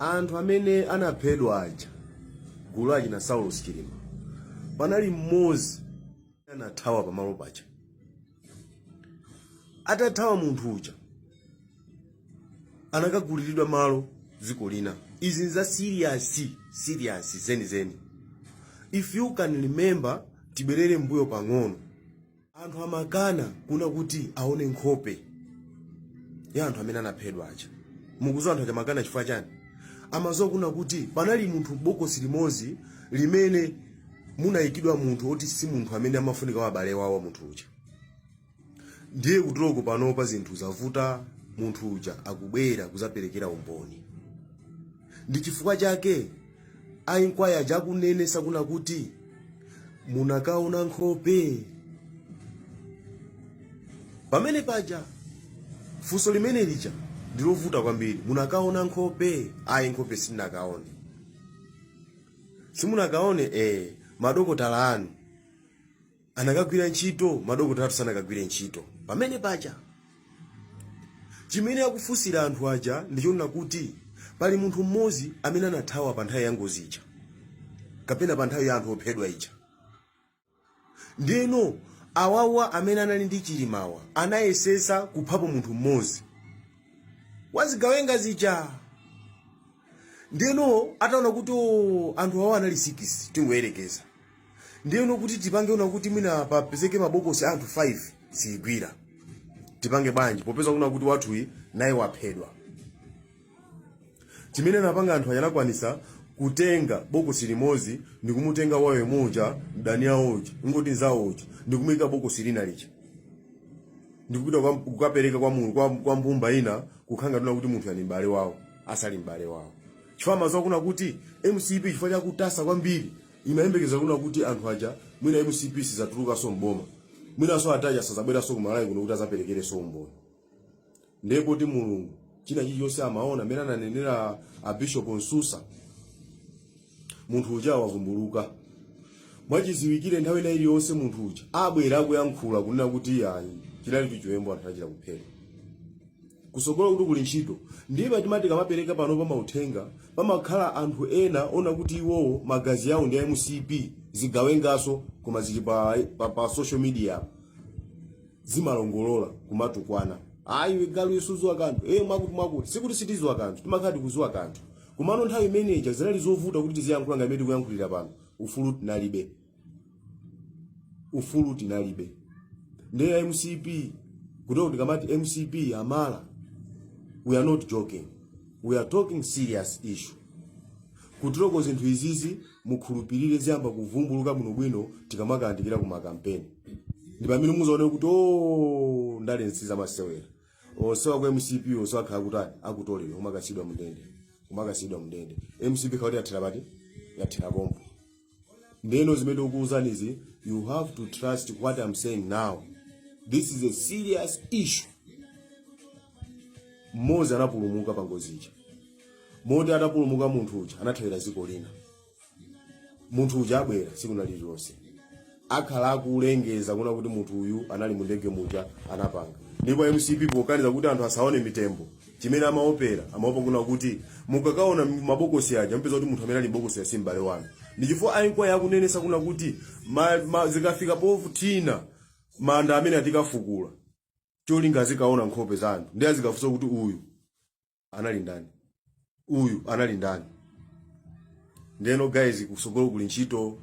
anthu amene anaphedwa aja gulu achina Saulos Chilima panali mmodzi anathawa pamalo paja atathawa munthu uja anakaguliridwa malo dziko lina izi nza serious serious zenizeni if you can remember tibwerere mbuyo pang'ono anthu amakana kuna kuti aone nkhope ya anthu amene anaphedwa aja mukuziwa anthu aja amakana chifukwa chani amaziwa kuna kuti panali munthu m'bokosi limodzi limene munayikidwa munthu oti si munthu amene amafunika wa abale wawo munthu uja ndiye kutereko panopa zinthu zavuta munthu uja akubwera kuzaperekera umboni ndi chifukwa chake a inquiry aja akunenetsa kuna kuti munakaona nkhope pamene paja funso limene lija ndilovuta kwambiri munakaona nkhope ayi nkhope sitinakaone simunakaone eh madokotala anu anakagwira ntchito madokotala athu sanakagwire ntchito pamene paja chimene akufunsira anthu aja ndichonena kuti pali munthu mmodzi amene anathawa pa nthawi ya ngozi ija kapena pa nthawi ya anthu ophedwa ija ndeno awawa amene anali ndi chilimawa anayesesa kuphapo munthu mmodzi wazigawenga zija ndeno ataona kuti "Oh, anthu awa anali sikisi tingoyerekeza ndiyeno kuti tipange una kuti mwina papezeke mabokosi a anthu 5 sizigwira tipange bwanji popeza kuna kuti wathuyi naye waphedwa chimene anapanga anthu anakwanisa kutenga bokosi limodzi ndi kumutenga wayo muja mdani awo uja ngoti nzawo uja ndi kumuyika m'bokosi lina lija ndikupita kwa- kukapereka kwa mulungu kwa, kwa mbumba ina kukhala ngati una kuti munthu ali m'bale wawo asali m'bale wawo chifukwa amaziwa kuna kuti mcp chifukwa chakutasa kwambiri imayembekeza kuna kuti anthu aja mwina mcp sizatulukanso m'boma mwinanso ada aja sazabweranso ku malawi kuno kuti azaperekerenso umboni ndiye poti mulungu china chilichonse amaona mmene ananenera a bishop msusa munthu uja wavumbuluka mwachiziwikire nthawi ina iliyonse munthu uja abwera akuyankhula kunena kuti ayi chinali chiwembu anthu anachita kuphedwa kusogolo kuti kuli ntchito ndiye pamati tikamapereka pano mauthenga pamakhala anthu ena ona kuti iwowo magazi yawo ndi a mcp zigawengaso koma zili pa, pa, pa social media apo zimalongolola kumatukwana ayi iwe galu iwe suziwa kanthu e mwakuti mwakuti sikuti sitiziwa kanthu timakhala tikuziwa kanthu komano nthawi imeneja zinali zovuta kuti tiziyankhula nga mmene tikuyankhulira pano ufulu tinalibe ufulu tinalibe ndiye a mcp kutereko tikamati mcp yatha we are not joking we are talking serious issue kutereko zinthu izizi mukhulupirire ziyamba kuvumbuluka bwinobwino tikamakayandikira ku makampeni ndi pamene muzaone kuti ndale si za masewera onsewa a ku mcp onse akhala kutani akutoleredwa kumakatsekeredwa mndende kumakasidwa mndende mcp ikhala kuti yathera pati yathera pompo ndeno zimene ndikukuuzanizi you have to trust what i'm saying now this is a serious issue mmodzi anapulumuka pa ngozi ija moti atapulumuka munthu uja anathawira dziko lina munthu uja abwera tsiku lina lililonse akhala akulengeza kunena kuti munthu uyu anali mu ndege muja anapanga ndipo mcp pokaniza kuti anthu asaone mitembo chimene amaopera amaopa kunena kuti mukakaona mabokosi aja mupeza kuti munthu amene ali m'bokosi uja si m'bale wanu ndi chifukwa ainkwaya akunenesa kunena kuti ma, ma, zikafika povutina manda amenewa tikafukula cholinga azikaona nkhope za anthu ndiye azikafunsa kuti uyu anali ndani uyu anali ndani ndeno guys kusogolo kuli ntchito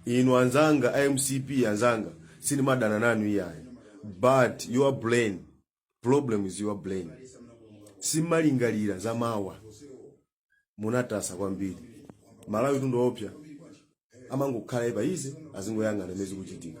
inu anzanga a mcp anzanga sindimadana nanu iyayi but your brain problem is your brain simumalingalira za mawa munatasa kwambiri amalawi ndi mtundu oopsa amangokhala phee izi azingoyang'ana zimene zikuchitika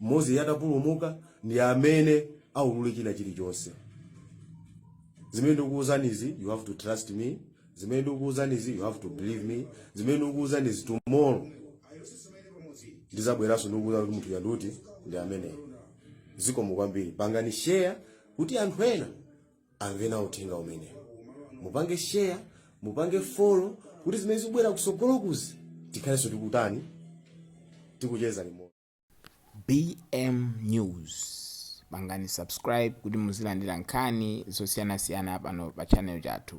Mmodzi anapulumuka ndi amene aulule china chilichonse. Zimene ndikukuuzanizi you have to trust me. Zimene ndikukuuzanizi you have to believe me. Zimene ndikukuuzanizi tomorrow ndizabweranso ndikukuuza kuti munthu uja mumati ndi ameneyu. Zikomo kwambiri. Pangani share kuti anthu ena amve nawo uthenga umenewu. Mupange share, mupange follow kuti zimene zikubwera kusogolokuzi tikhalenso tikutani tikucheza limodzi. BM news pangani subscribe kuti muzilandira nkhani zosiyanasiyana pano pa channel chathu.